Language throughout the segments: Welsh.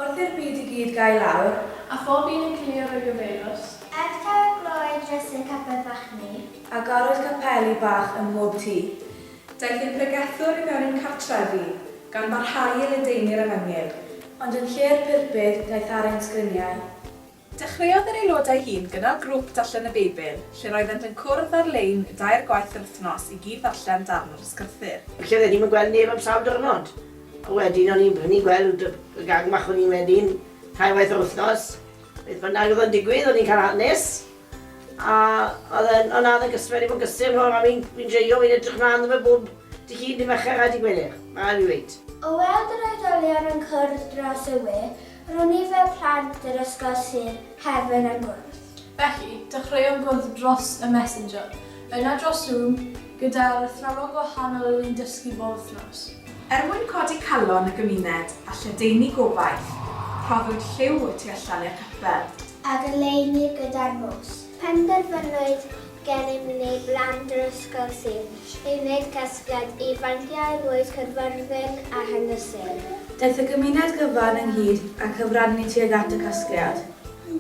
Wrth i'r byd i gyd gau lawr. A phob un yn cilio roi gyfeirws. Ers tair gloed drysu capel fach ni. A garwyd capeli bach ym mhob tŷ. Daeth ein pregethwr i mewn i'n cartref i. Gan barhau i ledaenu'r efengyl. Ond yn lle'r pulpud daeth ar ein sgriniau. Dechreuodd yr aelodau hŷn gynnal grŵp darllen y Beibl, lle roeddent yn cwrdd ar-lein dair gwaith yr wythnos i gyd-ddarllen darn o'r Ysgrythur. Felly oeddwn i'm yn gweld neb am sawl diwrnod. A wedyn o'n i'n brynu gweld y gang bach o'n i'n mynd i'n tair waith yr wythnos. Beth bynnag oedd yn digwydd, o'n i'n cael hanes, a oedd e'n... O na, oedd e'n gysur, mae wedi bod yn gysur mor a fi'n joio, fi'n edrych mlaen iddo fe bob Dydd Llun, Dydd Mercher a Dydd Gwener, mae rhaid fi ddweud. O weld yr oedolion yn cwrdd dros y we, Roedd nifer plant yr ysgol Sir Caerfyrddin yn gwrdd. Felly, dechreuom gwrdd dros y Messenger, yna dros Zoom, gyda'r athrawon gwahanol oedd yn dysgu bob wythnos. Er mwyn codi calon y gymuned a lledaenu gobaith, rhoddwyd lliw y tu allan i'r capel. A goleuni gyda'r nos. Penderfynwyd gennym ni blan drosgol sydd i wneud casgliad i fanciau'r fwyd cyfarwydd a hynysig. Daeth y gymuned gyfan ynghyd a cyfrannu tuag at y casgliad.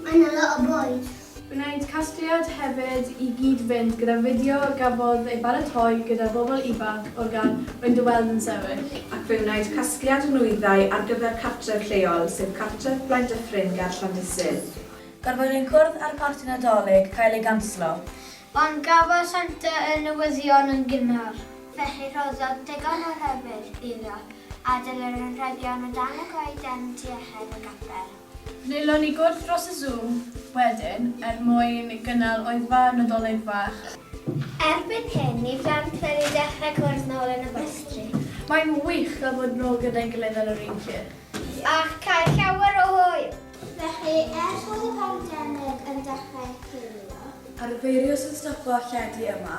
Mae 'na lot o bwyd! Gwnaed casgliad hefyd i gyd-fynd gyda fideo gafodd ei baratoi gyda bobl ifanc o'r gan Fynd y Weld yn sefyll. Ac fe wnaed casgliad nwyddau ar gyfer cartref lleol, sef cartref Blaendyffryn ger Llandysul. Pan fo'r un cwrdd â'r Parti Nadolig cael ei ganslo. Ond cafodd Santa y newyddion yn gynnar. Felly rhoddodd digon o rybudd iddo adael yr anrhegion o dan y goeden tu allan i gapel. Wnaelon ni gwrdd dros y Zoom wedyn er mwyn gynnal oedfa Nadolig fach. Erbyn hyn, ni plant wedi dechrau cwrdd nôl yn y gwestry. Mae'n wych cael bod nôl gyda'i gilydd ar yr un lle. Ac cael llawer o hwyl! Felly, ers bod y pandemig yn dechrau cilio. A'r feirws yn stopo lledu yma.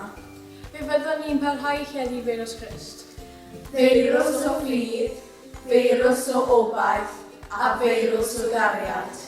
Fe fyddwn ni'n parhau i lledu feirws Crist. Feirws o ffydd, feirws o obaith, a feirws o gariad.